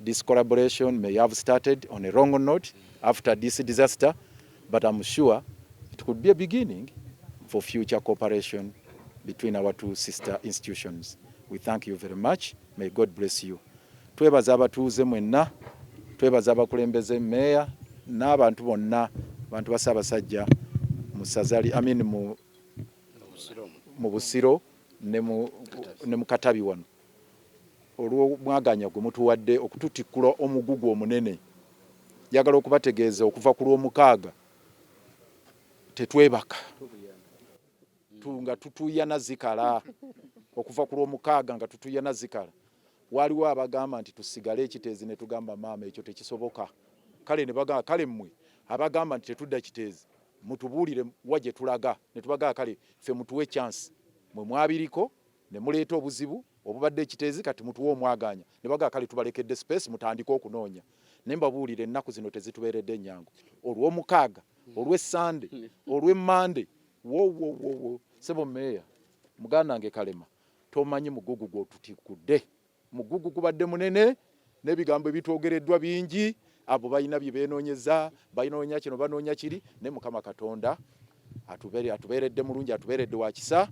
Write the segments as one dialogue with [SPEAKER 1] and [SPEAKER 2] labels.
[SPEAKER 1] This collaboration may have started on a wrong note after this disaster, but I'm sure it could be a beginning for future cooperation between our two sister institutions. We thank you very much. May God bless you. Twebaza abatuuze mwenna, twebaza abakulembeze meeya n'abantu bonna abantu bassaabasajja mu sazali amin mu Busiro ne mu Katabi wano. olw'omwagaanya gwe mutuwadde okututikkula omugugu omunene. Njagala okubategeeza okuva ku Lwomukaaga tetwebaka nga tutuuyana zikala. Okuva ku Lwomukaaga nga tutuuyana zikala. Waaliwo abagamba nti tusigale e Kiteezi ne tugamba maama ekyo tekisoboka. Kale ne bagamba kale mmwe abagamba nti tetudda Kiteezi mutubuulire wa gye tulaga ne tubagamba kale ffe mutuwe chance. Mmwe mwabiriko ne muleeta obuzibu obubadde ekiteezi kati mutuwa omwagaanya ne bagaa kale tubalekedde space mutandike okunoonya ne mbabuulira ennaku zino tezitubeeredde nyangu olw'omukaaga olw'essande olw'emmande wowowowo sebo meeya muganda nge kalema tomanyi mugugu gwotutikudde Mugugu gubadde munene n'ebigambo ebitwogereddwa bingi abo balina bye beenoonyeza banoonya kino banoonya kiri naye mukama katonda atubeeredde mulungi atubeeredde wa kisa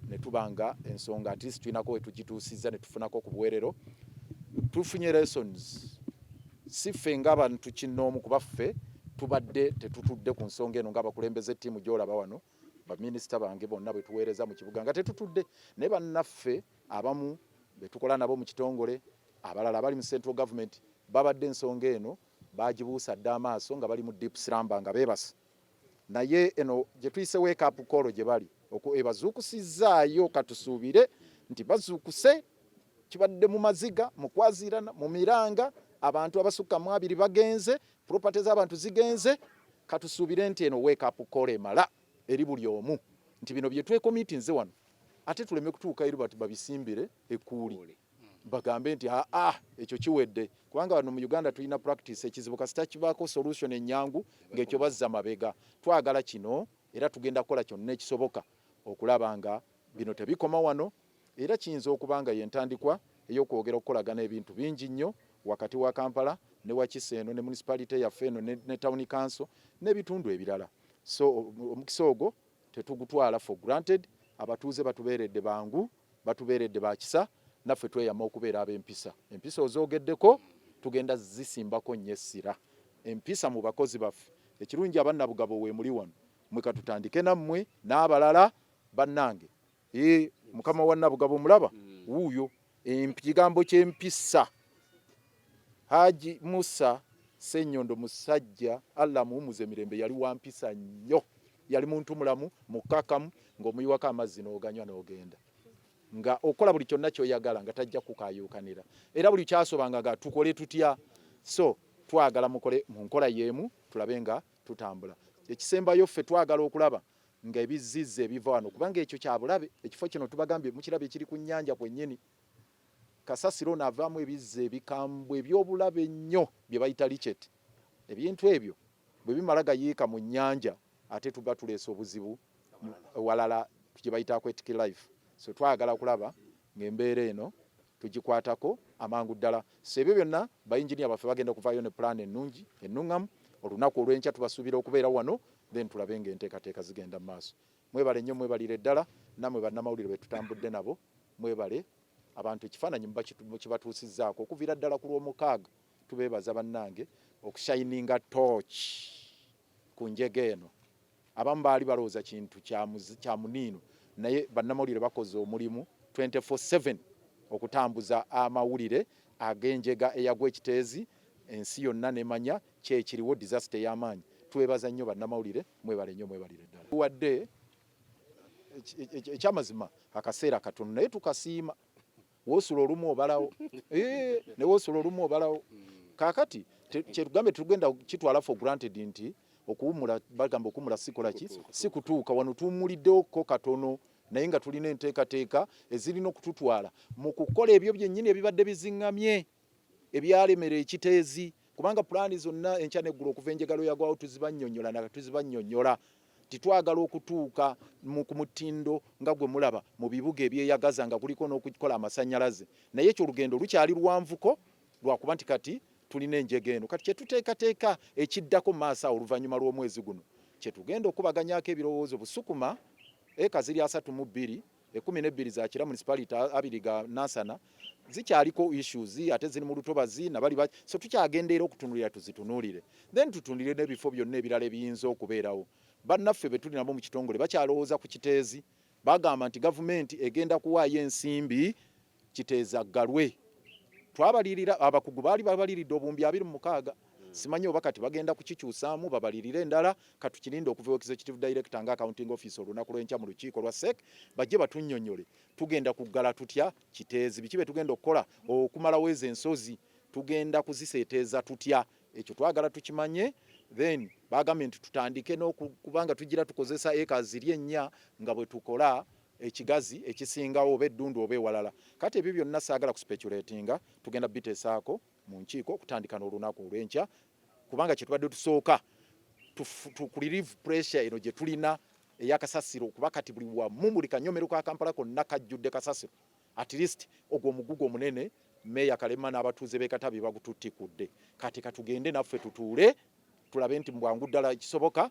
[SPEAKER 1] ne tuba nga ensonga at least tulinako we tugituusizza ne tufunako ku buweerero tufunye lessons si ffe ng'abantu kinnoomu kuba ffe tubadde tetutudde ku nsonga eno ng'abakulembeze ttiimu gy'olaba wano baminisita bange bonna bwe tuweereza mu kibuga nga tetutudde naye bannaffe Abamu be tukola nabo mu kitongole abalala abali mu Central Government babadde ensonga eno baagibuusa dda amaaso nga bali mu deep slumber nga beebase naye eno gye tuyise wake up call gye bali ebazuukusizzaayo katusuubire nti bazuukuse kibadde mu maziga mu kwaziirana mu miranga abantu abasukka mu abiri bagenze property z'abantu zigenze katusuubire nti eno wake up call emala eri buli omu nti bino bye twekomitinze wano ate tuleme kutuuka eri bati babisimbire ekkuuli hmm. bagambe nti aa ah, ah, ekyo kiwedde kubanga wano mu uganda tulina practice ekizibu kasita kibaako solution enyangu ng'ekyo bazza mabega twagala kino era tugenda kukola kyonna ekisoboka okulaba nga bino tebikoma wano era kiyinza okuba nga yentandikwa ey'okwogera okukolagana ebintu bingi nnyo wakati wa kampala ne wakisa eno ne municipality yaffe eno ne tawuni kanso n'ebitundu ebirala so omukisa ogwo tetugutwala for granted abatuuze batubeeredde bangu batubeeredde bakisa naffe tweyama okubeera ab'empisa empisa ozoogeddeko tugenda zisimbako nnyo essira empisa mu bakozi baffe ekirungi abannabugabo weemuli wano mwe katutandike nammwe n'abalala bannange Ee, mukama wa Nabugabo mulaba mm. wuuyo ekigambo ky'empisa Haji Musa Sennyondo musajja Allah muwumuze mirembe yali wa mpisa nnyo yali muntu mulamu mukakamu ng'omuyiwako amazzi n'oganywa n'ogenda nga okola buli kyonna kyoyagala nga tajja kukayuukanira era buli kyasobanga nga tukole tutya so twagala mukole mu nkola y'emu tulabe nga tutambula ekisembayo ffe twagala okulaba nga ebizzizza ebiva wano kubanga ekyo kyabulabe ekifo kino tubagambye mukirabye kiri ku nnyanja kwennyini kasasiro ono avaamu ebizza ebikambwe ebyobulabe ennyo bye bayita licet ebintu ebyo bwe bimala gayiika mu nnyanja ate tuba tuleesa obuzibu walala gye bayita aquetic life so twagala okulaba ng'embeera eno tugikwatako amangu ddala so ebyo byonna bayinginiya baffe bagenda okuvaayo ne pulaani ennungi ennuŋŋamu olunaku olw'enkya tubasuubira okubeera wano then tulabe nga enteekateeka zigenda mu maaso mwebale nnyo mwebalire ddala namwe bannamawulire betutambudde nabo mwebale abantu ekifaananyi mukibatuusizzaako okuviira ddala ku lw'omukaaga tubeebaza bannange okushayininga tooki ku njega eno Abamu baali balowooza kintu kya muniino naye bannamawulire bakoze omulimu 24/7 okutambuza amawulire ag'enjega eyagwa e Kiteezi ensi yonna nemanya kyekiriwo disaster ey'amaanyi. Twebaza nnyo bannamawulire mwebale nnyo mwebalire ddala. Tuwadde ekyamazima akaseera katono naye tukasiima. wosula olumu obalawo eh, ne wosula olumu obalawo kakati kyetugambe tugenda kitwala for granted nti okuwumula bagamba okuwumula sikola ki sikutuuka wano tuwumuliddewoko katono naye nga tulina enteekateeka ezirina okututwala mu kukola ebyo byennyini ebibadde bizingamye ebyalemera ekiteezi kubanga pulaani zonna enkya neggulu okuva enjegalo yagwawo tuzibanyonyola na tuzibanyonyola nti twagala okutuuka ku mutindo nga gwe mulaba mu bibuga ebyeyagaza nga kuliko n'okukola amasannyalaze naye ekyo olugendo lukyali luwanvuko lwakuba nti kati tulina enjega eno kati kyetuteekateeka ekiddako maaso awo oluvannyuma lw'omwezi guno kyetugenda okubaganyako ebirowoozo busukuma eka ziri asatu mu bbiri ekumi nebbiri za kira municipality abiri ga nansana zikyaliko issues ate ziri mu lutobazi nabali so tukyagendeera okutunulira tuzitunulire then tutunulire n'ebifo byonna ebirala ebiyinza okubeerawo bannaffe be tuli nabo mu kitongole bakyalowooza ku kiteezi bagamba nti gavumenti egenda kuwaayo ensimbi kiteeza aggalwe twabalirira abakugu baali babaliridde obuwumbi abiri mumukaaga hmm. simanyi oba kati bagenda kukikyusaamu babalirire endala katukirinde okuva ewa executive director nga accounting office olunaku lwenkya mu lukiiko lwa sec bajje batunyonyole tugenda kuggala tutya kiteezi biki bye tugenda okukola okumalawo ezo ensozi tugenda kuziseeteeza tutya ekyo twagala tukimanye then bagambye nti tutandike nokubanga tugira tukozesa eka ziri ennya nga bwe tukola ekigazi ekisingawo oba eddundu oba ewalala kati ebyo byonna saagala kusipeculatinga tugenda bitesaako mu nkiiko okutandika n'olunaku olw'enkya kubanga kyetubadde tusooka tukulirive pressure eno gye tulina eyakasasiro kuba kati buli wamu buli kanyomero ka kampala konna kajjudde kasasiro at least ogwo omugugu omunene meeya kalema n'abatuuze b'ekatabi bagututtikudde kati katugende naffe tutuule tulabe nti bwangu ddala kisoboka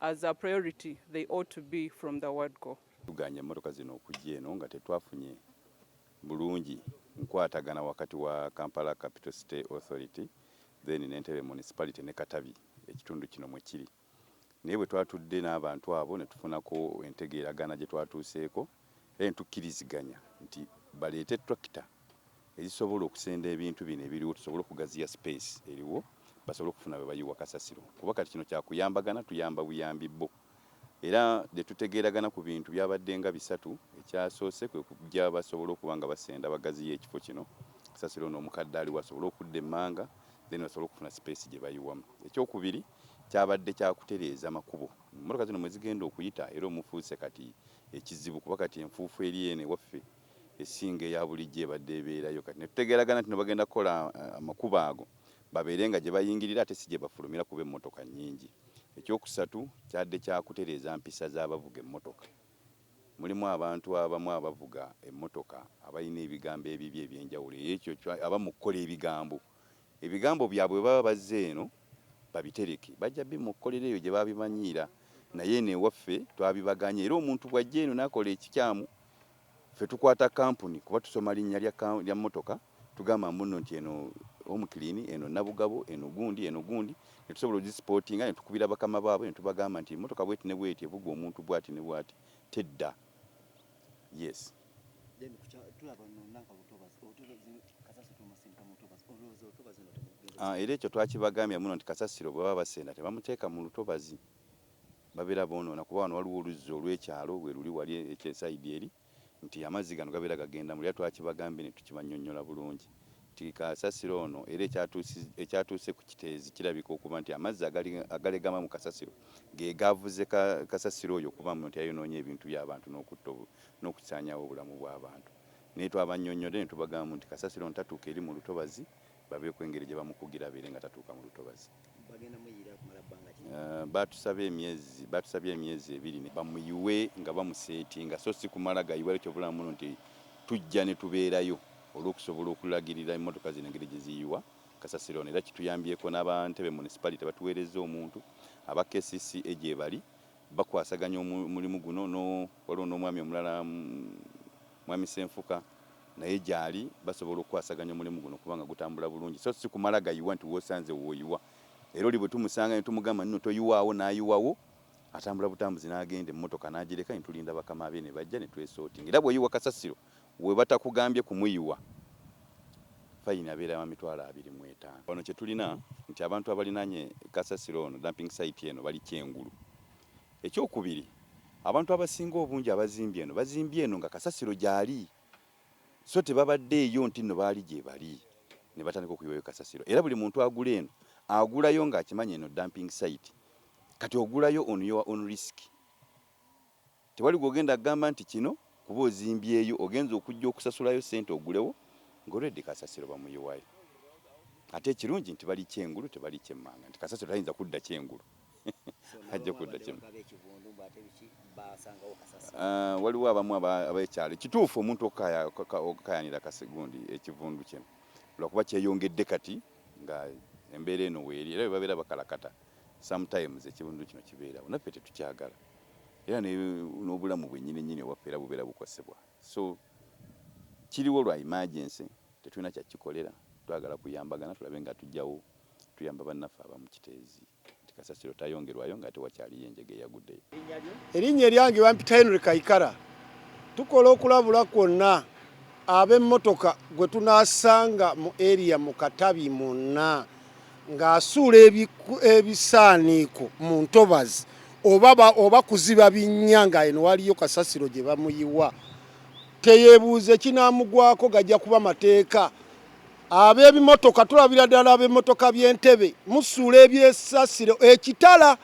[SPEAKER 2] as a priority they ought to be from the word go. Tuganye emmotoka zino
[SPEAKER 3] okujja eno nga tetwafunye bulungi nkwatagana wakati wa Kampala Capital City Authority then n'Entebbe Municipality ne Katabi ekitundu kino mwe kiri naye bwe twatudde n'abantu abo ne tufunako entegeeragana gye twatuuseeko Kale tukkiriziganya nti baleete ttulakita ezisobola okusenda ebintu bino ebiriwo tusobole okugaziya sipeesi eriwo basobole okufuna we bayiwa kasasiro kuba kati kino kya kuyambagana tuyamba buyambi bo era ne tutegeeragana ku bintu byabadde nga bisatu, ekyasoose kwe kuggya basobole okuba nga basenda bagaziye ekifo kino kasasiro n'omukadde aliwo asobole okudda emmanga then basobole okufuna sipeesi gye bayiwamu. Ekyokubiri kyabadde kya kutereeza makubo, mmotoka zino mwe zigenda okuyita era omufuuse kati ekizibu kuba kati enfuufu eri eno ewaffe esinga eya bulijjo ebadde ebeerayo kati ne tutegeeragana nti ne bagenda kukola amakubo ago babeere nga gye bayingirira ate si gye bafulumira kuba emmotoka nnyingi. Ekyokusatu kyadde kya kutereeza mpisa z'abavuga emmotoka. Mulimu abantu abamu abavuga emmotoka abalina ebigambo ebibi eby'enjawulo eyo ekyo abamu kukola ebigambo. ebigambo byabwe bwe baba bazze eno babitereke bajja bimokkolera eyo gye baabimanyiira naye eno ewaffe twabibagaanye era omuntu bw'ajja eno n'akola ekikyamu ffe tukwata kkampuni kuba tusoma linnya lya ka, lya mmotoka tugamba mbuno nti eno Home Clean, eno Nabugabo, eno gundi, eno gundi ne tusobola ozisipootinga ne tukubira bakama baabwe ne tubagamba nti emmotoka bw'eti ne bw'eti evugwa omuntu bw'ati ne bw'ati tedda. Yes. Ah, era ekyo twakibagambya muno nti kasasiro bwe baba basenda tebamuteeka mu lutobazi babeera boonoona kuba wano waliwo oluzzi olw'ekyalo bwe luli wali ekyesayidi eri nti amazzi gano gabeera gagenda mu era twakibagambye ne tukibannyonnyola bulungi nti kasasiro ono era ekyatuuse ku kiteezi kirabika okuba nti amazzi agalegama mu kasasiro ge gaavuze kasasiro oyo okuba nti ayonoonye ebintu by'abantu n'okutta n'okusaanyawo obulamu bw'abantu naye twabannyonnyodde ne tubagamba nti kasasiro ntatuuka eri mu lutobazi babeeko engeri gye bamukugira abeere nga tatuuka mu lutobazi. Baatusaba emyezi baatusabye emyezi ebiri bamuyiwe nga bamuseetinga so si kumala gayiwa era kyova olaba muno nti tujja ne tubeerayo olw'okusobola okulagirira emmotoka zino engeri gye ziyiwa kasasiro ono era kituyambyeko n'aba Ntebe Municipality batuweerezza omuntu aba kcca gyebali bakwasaganya omulimu guno no waliwo n'omwami omulala mwami Ssenfuka naye gyali basobola okukwasaganya omulimu guno kubanga gutambula bulungi so si kumala gayiwa nti wosanze woyiwa era oli bwe tumusanga ne tumugamba nno toyiwaawo n'ayiwawo atambula butambuzi n'agenda emmotoka n'agireka ne tulinda bakama be ne bajja ne twesortinga era bw'oyiwa kasasiro webatakugambye kumuyiwa fayini abeera wa mitwalo abiri mu etaano. Wano kye tulina nti abantu abalinaanye kasasiro ono, dumping site, eno bali kyengulu. Ekyokubiri abantu abasinga obungi abazimbye eno bazimbye eno nga kasasiro gyali so tebabaddeeyo nti nno baali gyebali ne batandika okuyiwayo kasasiro era buli muntu agula eno agulayo ng'akimanyi eno dumping site kati ogulayo on your own risk. Tewali gwogenda agamba nti kino kuba ozimbyeyo ogenze okujja okusasulayo sente ogulewo nga already kasasiro bamuyiwayo ate ekirungi nti bali kyengulu tebali kyemmanga nti kasasiro tayinza kudda kyengulu ajja kudda kyemmanga. Ah, waliwo abamu abekyalo kituufu omuntu okukayanira kasigundi ekivundu kye lwakuba kyeyongedde kati nga embeera eno weeri era webabeera bakalakata sometimes ekivundu kino kibeerawo naffe tetukyagala era n'obulamu bwenyini nyini ewaffe era bubeera bukosebwa so kiriwo lwa emergency tetulina kyakikolera twagala kuyambagana tulabe nga tujjawo tuyamba bannaffe abamu Kiteezi nti kasasiro tayongerwayo nga ate wakyaliyo enjega eyaguddeyo. Erinnya
[SPEAKER 4] eryange bampita Henry Kaikara. Tukola okulabula kwonna ab'emmotoka gwe tunaasanga mu area mu Katabi mwonna ng'asuula ebisaaniiko mu ntobazi oba oba kuziba binnya nga eno waliyo kasasiro gye bamuyiwa teyeebuuza ekinaamugwako gajja kuba mateeka ab'ebimotoka tulabira ddala ab'emmotoka by'entebe musuula ebyesasiro ekitala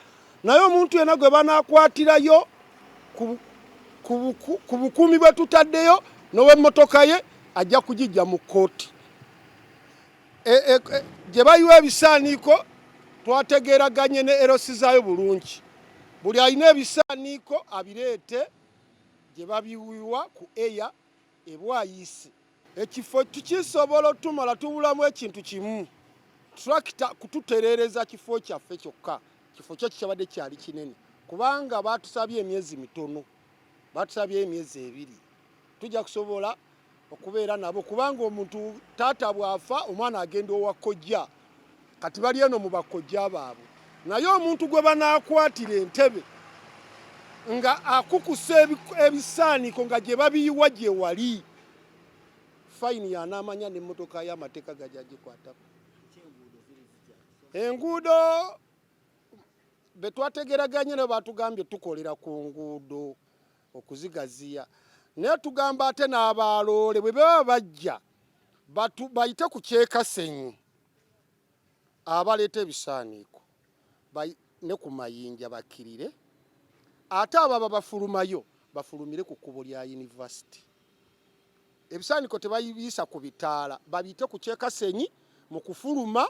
[SPEAKER 4] naye omuntu yena gwe banaakwatirayo ku bukuumi bwe tutaddeyo n'ow'emmotoka ye ajja kugijja mu kkooti e, e, e, gye bayiwa ebisaaniiko twategeeraganye ne erosi zaayo bulungi buli alina ebisaaniiko abireete gye babiwiwa ku eya ebwayiisi ekifo tukisobola otumala tubulamu ekintu kimu tulakita kututereereza kifo kyaffe kyokka kifo kyo kikyabadde kyali kinene kubanga baatusabye emyezi mitono batusabye emyezi ebiri tujja kusobola okubeera nabo kubanga omuntu taata bw'afa omwana agenda owa kojja kati bali eno mu bakojja baabwe naye omuntu gwe banaakwatira entebe nga akukusa ebisaaniko nga gye babiyiwa gye wali fayini yanaamanya n'emmotoka y'amateeka gajya gikwatako enguudo be twategeraganye nabo batugambye tukolera ku nguudo okuzigaziya naye tugamba ate n'abaloole bwe baba bajja bayite ku kyekasenyu abaleeta ebisaaniiko ne ku mayinja bakkirire ate ababa bafulumayo bafulumire ku kkubo lya yunivasite ebisaaniiko tebayibiyisa ku bitaala babiyite ku kyekasenyi mu kufuluma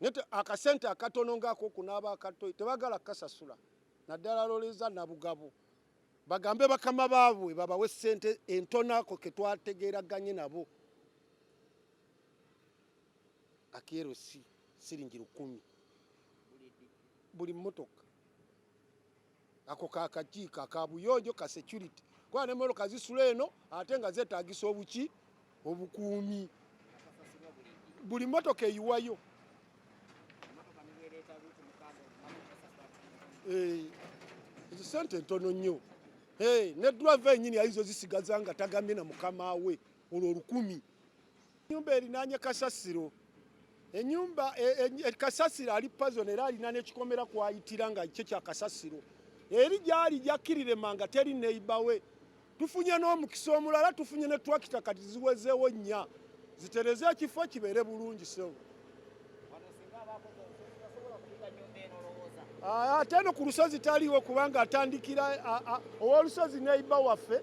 [SPEAKER 4] nete akasente akatono ngako kunaba akato tebagala kasasula naddala loleza nabugabo bagambe bakama baabwe babawe sente entonako ketwategeraganye nabo akero si siringi lukumi buli motoka ako kakakiiko akabuyonjo ka security kuba ne moroka zisula eno ate nga zetagisa obuki obukuumi buli motoka eyiwayo eh, ezo sente ntono nnyo eh, ne drive enyini ayizo zisigaza nga tagambye na mukama we olwo olukumi Enyumba erinaanye kasasiro enyumba e, e, e, kasasiro ali pazon era alina nekikomera kwayitira nga kye kya kasasiro eri gyali gyakkirire manga teri neiba we tufunye n'omukisa omulala tufunye ne twakita kati ziwezeewo nnya zitereze ekifo kibeere bulungi sewo Ah, ate eno ku lusozi taliwo kubanga atandikira owolusozi neiba waffe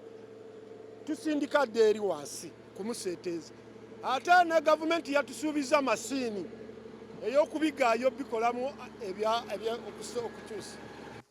[SPEAKER 4] tusindika dda eri wansi kumuseeteeza ate ne gavumenti yatusuubiza masiini ey'okubigaayo bikolamu okukyusa